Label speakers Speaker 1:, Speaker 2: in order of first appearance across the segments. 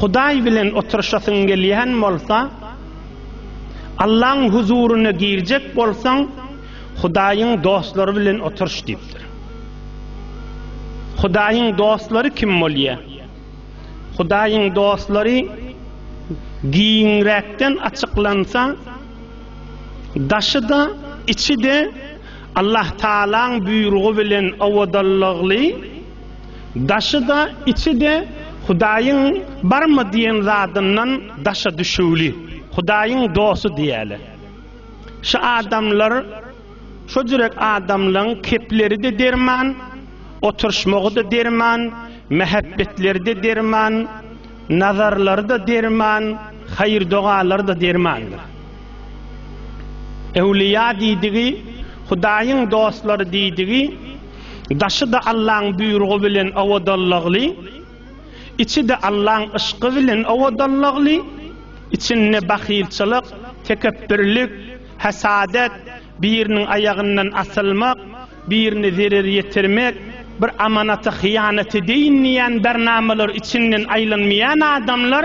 Speaker 1: Hudaý bilen oturyşasyň gelýän bolsa, Allaň huzuryna girjek bolsaň, Hudaýyň dostlary bilen oturyş diýipdir. Hudaýyň dostlary kim bolýar? Hudaýyň dostlary giňräkden açyklansa, daşy-da, içi-de Allah Taalaň buýrugy bilen owadanlykly Daşy-da, içi-de Hudaýyň barmy diýen zadyndan daşa düşüwli, Hudaýyň dosty diýeli. Şu adamlar, şo jürek adamlaryň kepleri-de derman, oturyşmagy-da derman, mähebbetleri-de derman, nazarlary-da derman, haýyr-dogalary-da dermandyr. Öwlüýa diýdigi, Hudaýyň dostlary diýdigi, Daşy-da Allaň buýrugy bilen owadanlykly, içi-de Allaň yşky bilen owadanlykly, içinde bahylçylyk, tekepbirlik, hesadet, biriniň aýagyndan asylmak, birine zerer ýetirmek, bir amanata hyýanat edeýin diýýän bernamalar içinden aýlanmaýan adamlar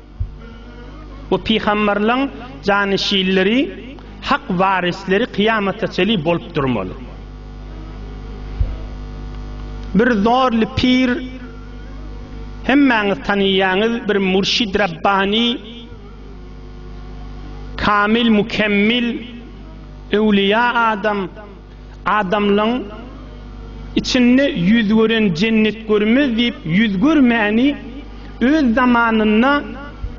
Speaker 1: Bu pygamberleň janişinleri, hak warisleri kyýamata çenli bolup durmaly. Bir zorly pir hemmäňiz tanaýaňyz bir murşid rabbani kamil mükemmel öwlüýa adam Adamlaň içinde ýüz gören jennet görmez diýip ýüz görmäni öz zamanynda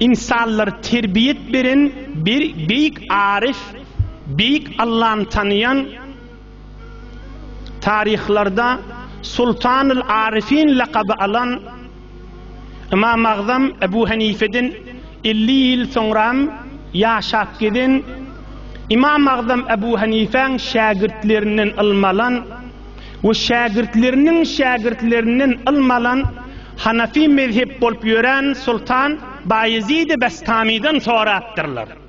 Speaker 1: ynsanlary terbiýet beren bir beýik aryf, beýik Allany tanaýan taryhlarda Sultanyl Aryfin lakaby alan Ymam Agzam Ebu Henifeden elli ýyl soňram ýaşap gezen Ymam Agzam Ebu Henifäň şägirtlerinden ylmy alan we şägirtleriniň şägirtlerinden ylmy alan Hanafi mezhep bolup ýören Sultan Baýezidi Bestamydan sorapdyrlar.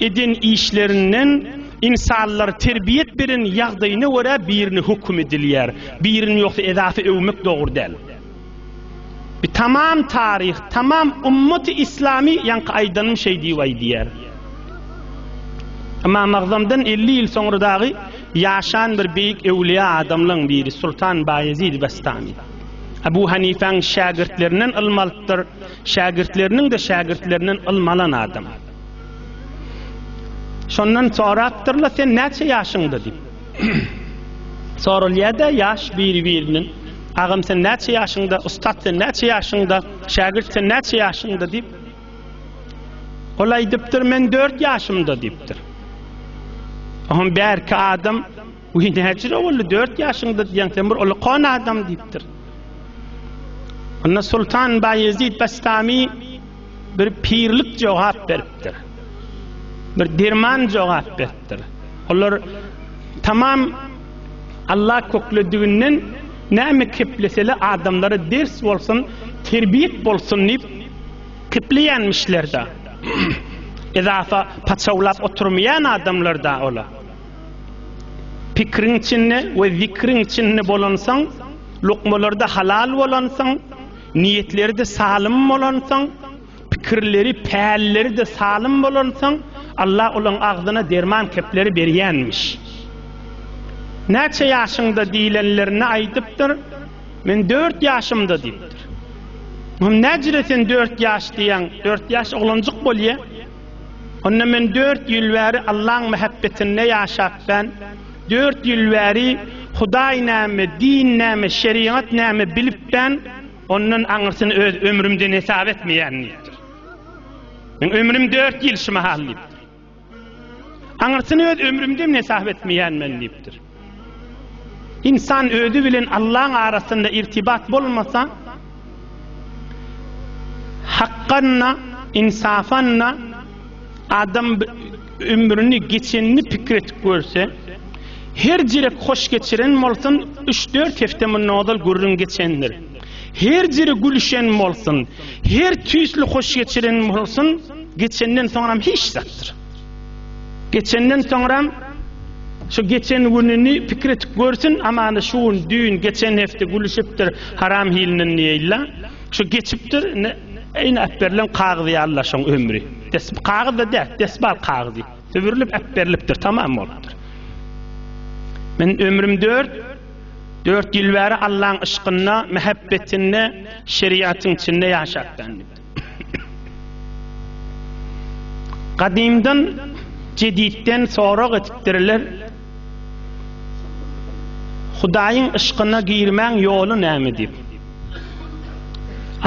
Speaker 1: Eden işlerinden ynsanlar terbiýet beren ýagdaýyna görä birini höküm edilýär, birini ýogsa edasy öwmek dogry däl. Bir tamam taryh, tamam ummaty islamy ýaňky aýdanym şeý diýip aýdýar. Emma Magzamdan 50 ýyl soňra dagy ýaşan bir beýik öwliýa adamlaň biri Sultan Baýezid Bestami. Abu Hanifäň şägirtlerinden ylm alypdyr. Şägirtleriniň-de şägirtlerinden ylmy alan adam. Şondan sorapdyrlar, sen näçe ýaşyňda diýip. Sorulýar-da ýaş biri-birinden. Agam sen näçe ýaşyňda, ussat sen näçe ýaşyňda, şägirt sen näçe ýaşyňda diýip. Ol aýdypdyr, men 4 ýaşymda diýipdir. Oňa bärki adam Uy näçe boldy? 4 ýaşyňda diýen sen bir ulkan adam diýipdir. Onda Sultan Bayezid Bastami bir pirlik jogap beripdir. Bir derman jogap beripdir. Olar tamam Allah köklediginden näme kepleseli adamlara ders bolsun, terbiyet bolsun diýip kepleýänmişler-de. Ezafa paçawlap oturmaýan adamlar da ola. Pikriň içinde we zikriň içinde bolansaň, lukmalarda halal bolansaň, niýetleri de salym bolansaň, pikirleri, pälleri de salym bolansaň, Allah olaň agzyna derman kepleri berýänmiş. Näçe ýaşyňda diýlenlerine aýdypdyr, men 4 ýaşymda diýipdir. Hum näjire sen 4 ýaş diýen, 4 ýaş oglanjyk bolýa. Onda men dört ýyl bäri Allaň mähebbetinde ýaşap ben, dört ýyl bäri Hudaý näme, din näme, şerigat näme bilip ben, ondan aňyrsyny öz ömrümden hesap etmeýän diýipdir. Men ömrüm dört ýyl şu mahal diýipdir. Aňyrsyny öz ömrümden hesap etmeýän men diýipdir. Ynsan özi bilen Allaň arasynda irtibat bolmasa, hakganna, ynsafanna adam ömrüni geçenini pikir etip görse, her jirek hoş geçiren bolsun, üç-dört hepde mundan ozal gürrüň geçendir. Her jiri gülüşen bolsun, her tüýsli hoş geçiren bolsun, geçenden soňam hiç zatdyr. Geçenden soňram şu geçen gününi pikir etip görsün, aman şu gün, düýn, geçen hepde gülüşipdir haram hilinden diýeýla. Şu geçipdir, indi eýni äpberilen kagyz ýalyla şoň ömri. Des kagyz-da däl, desbal kagyzy. Sübürilip äpberilipdir, tamam bolupdyr. Men ömrüm dört, dört ýyl bäri Allaň yşkynda, mähebbetinde, şeriatyň içinde ýaşapdym. Gadymdan jeditden sorag etipdirler. Hudaýyň yşkyna girmäň ýoly näme diýip.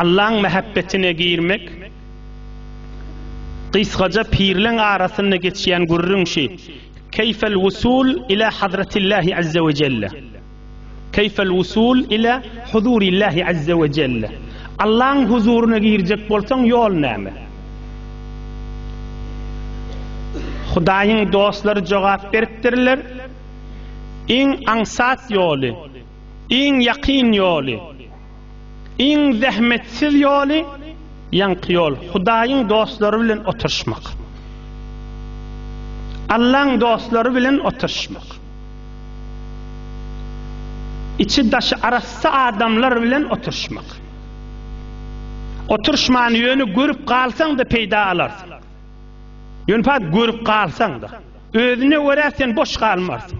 Speaker 1: Allaň mähebbetine girmek gysgaja pirleň arasynda geçýän gürrüň şi, Keýfel wusul ila Hazretillahi Azza we Jelle. Keýfel wusul ile huzurillahi azze we jelle. Allaň huzuryna girjek bolsaň ýol näme? Hudaýyň dostlary jogap beripdirler, Iň aňsat ýoly, iň ýakyn ýoly. Iň zähmetsiz ýoly, ýaňky ýol, Hudaýyň dostlary bilen oturyşmak. Allaň dostlary bilen oturyşmak. Içi-daşy arassa adamlar bilen oturyşmak. Oturyşman ýöne görüp galsaň-da peýda alarsyň. Ýöne görüp galsaň-da, özüne görä sen boş galmarsyň.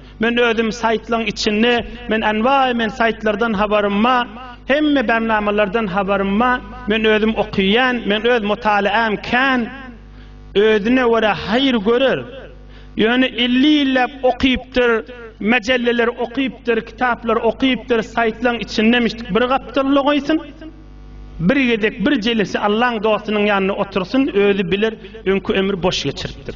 Speaker 1: Men özüm saýtlaň içinde men anwaý men saýtlardan habarym ba hemme barnamalardan habarym ba men özüm okyýan men öz mutalaam kän özüne görä haýyr görer ýöne elli ýyllap okypdyr majallalar okypdyr kitaplar okypdyr saýtlaň içinde mişdik bir gapdyr logaýsyn bir gezek bir jelesi allaň dostunyň ýanynda otursyn özi biler öňki ömür boş geçiripdir